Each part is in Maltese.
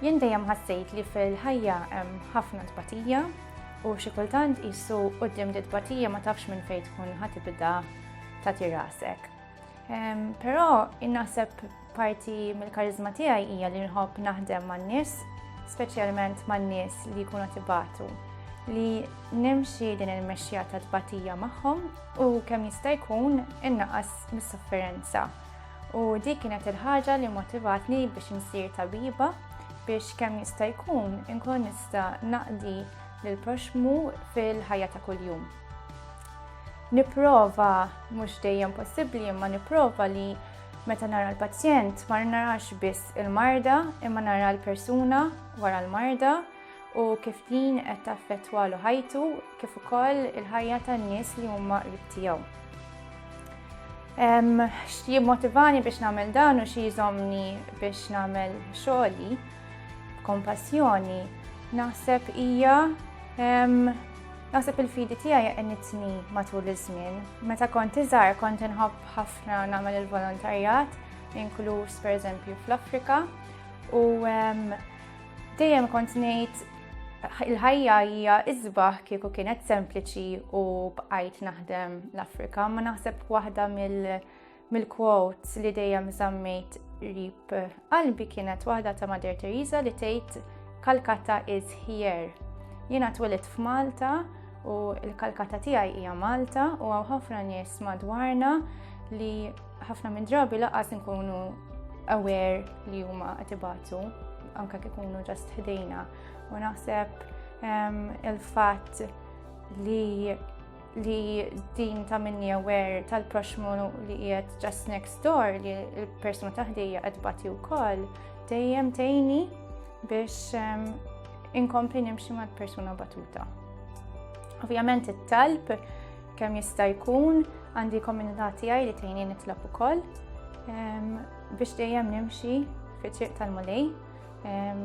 Jien dejjem ħassejt li fil-ħajja hemm ħafna tbatija u xi kultant qisu quddiem di tbatija ma tafx minn fejn tkun ħa tibda tagħti rasek. Però innaħseb parti mill-karizma tiegħi hija li nħobb naħdem man-nies, speċjalment man-nies li jkunu tibatu li nimxi din il-mexxija ta' tbatija magħhom u kemm jista' jkun innaqas mis-sofferenza. U dik kienet il-ħaġa li motivatni biex insir tabiba biex kemm jista' jkun inkun nista' naqdi lil proxmu fil-ħajja ta' kuljum. Nipprova mhux dejjem possibbli imma nipprova li meta nara l-pazjent ma narax biss il-marda imma nara l-persuna wara l-marda u kif din qed taffettwalu ħajtu kif ukoll il-ħajja tan-nies li huma qrib tiegħu. Xi jimmotivani biex nagħmel dan u xi jżomni biex nagħmel xogħli b'kompassjoni naħseb hija Naħseb il-fidi tiegħi qenitni matul iż-żmien. Meta kont iżgħar kont inħobb ħafna nagħmel il-volontarjat, inkluż pereżempju fl-Afrika, u Dejjem kont ngħid il-ħajja hija iżbaħ kieku kienet sempliċi u bqajt naħdem l-Afrika, ma naħseb waħda mill-quotes li dejjem żammejt rib qalbi kienet waħda ta' Mader Teresa li tgħid Kalkata is here. Jiena twilit f'Malta u l-Kalkata tiegħi hija Malta u hawn ħafna nies madwarna li Ħafna minn drabi laqas nkunu aware li huma qed ibatu anke kif ikunu ġast ħdejna u naħseb ehm, il-fatt li li din ta' minni aware tal-proxmu li jiet just next door li l-persuna taħdija qed bati wkoll dejjem tejni biex ehm, inkompli nimxi mal-persuna batuta. Ovvjament it-talb Kemm jista' jkun għandi komunità tiegħi li tgħinni nitlob ukoll ehm, biex dejjem nimxi fit-triq tal-mulej ehm,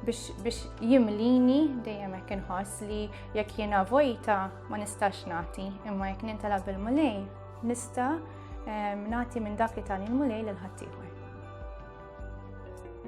biex jimlini dejjem hekk inħoss li jekk jiena vojta ma nistax nagħti, imma jekk nintala bil-mulej nista' ehm, nagħti minn dak li tani l-mulej lil ħaddieħor.